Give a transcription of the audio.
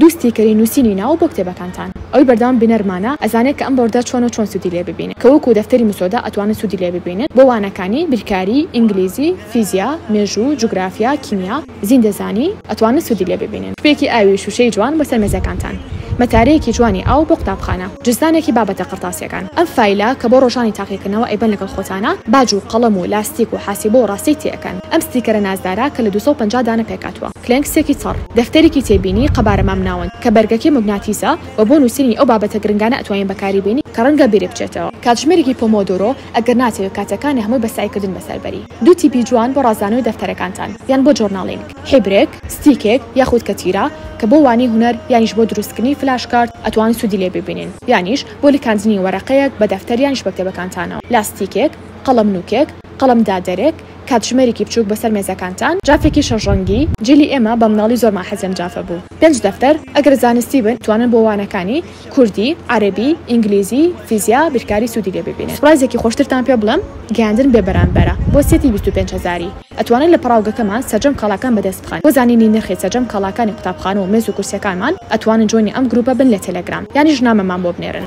دوو ستیکەری نوسینی ناوە بۆ کتێبەکانتان ئەوەی بەردەوام بینەرمانە ئەزانێت کە ئەم بۆردە چۆنەو چۆن سودی لێ ببینن کە وەکو دەفتەری مسۆدا ئەتوانن سودی لێ ببینن بۆ وانەکانی، بیرکاری، ئینگلیزی، فیزیا، مێژوو، جوگرافیا، کیمیا، زیندەزانی، ئەتوانن سودی لێ ببینن کوپێکی ئاوی شوشەی جوان بۆسەر مێزەکانتان مەتارەیەکی جوانی ئاو بۆ قوتابخانە جزدانێکی بابەتە قەرتاسیەکان ئەم فایلە کە بۆ ڕۆژانی تاقیکردنەوە ئەیبەن لەگەڵ خۆتانا باج و قەڵەم و لاستیک و حاسیبە و ڕاستەی تێئەکەن ئەم ستیکەرە نازدارە کە لە دوو سەد و پەنجا دانە پێکهاتوە. کلێنکسێکی چڕ، دەفتەرێکی تێبینی، قەبارە مامناوەند، کە بەرگەکەی موگناتیسە و بۆ نووسینی ئەو بابەتە گرنگانە ئەتوانین بەکاری بێنین کە ڕەنگە بیری بچێتەوە. کاتژمێرێکی پۆمۆدۆرۆ، ئەگەر ناتەوێت کاتەکانی هەمووی بە سەعیکردن بەسەر بەری. دوو تیپی جوان بۆ ڕازاندنەوەی دەفتەرەکانتان یان بۆ جۆرناڵینگ، حیبرێک، ستیکێک یاخود کەتیرە کە بۆ وانەی هونەر یانیش بۆ دروستکردنی فلاش کارت ئەتوانن سوودی لێ ببینن یانیش بۆ لکاندنی وەرەقەیەک بە دەفتەر یانیش بە کتێبەکانتانەوە، لاستیکێک، قەڵەم نووکێک، قەڵەم دادەرێک، کاتژمێرێکی بچووک بەسەر مێزەکانتان، جافێکی شەش ڕەنگی، جلی ئێمە بە مناڵی زۆرمان حەزی ئەم جافە بوو. پێنج دەفتەر، ئەگەر زانستی بن توانن بۆ وانەکانی، کوردی، عەرەبی، ئینگلیزی، فیزیا، بیرکاری سوودی لێ ببینن. پڕایزێکی خۆشترتان پێ بڵێم، گەیاندن بێ بەرامبەرە بۆ سێتی بیست و پێنج هەزاری، ئەتوانن لە پەڕاوگەکەمان سەرجەم کاڵاکان بەدەست بخەن، بۆ زانینی نرخی سەرجەم کاڵاکانی قوتابخانە و مێز و کورسیەکانمان ئەتوانن جوێنی ئەم گروپە بن لە تێلێگرام یانیش نامەمان بۆ بنێرن.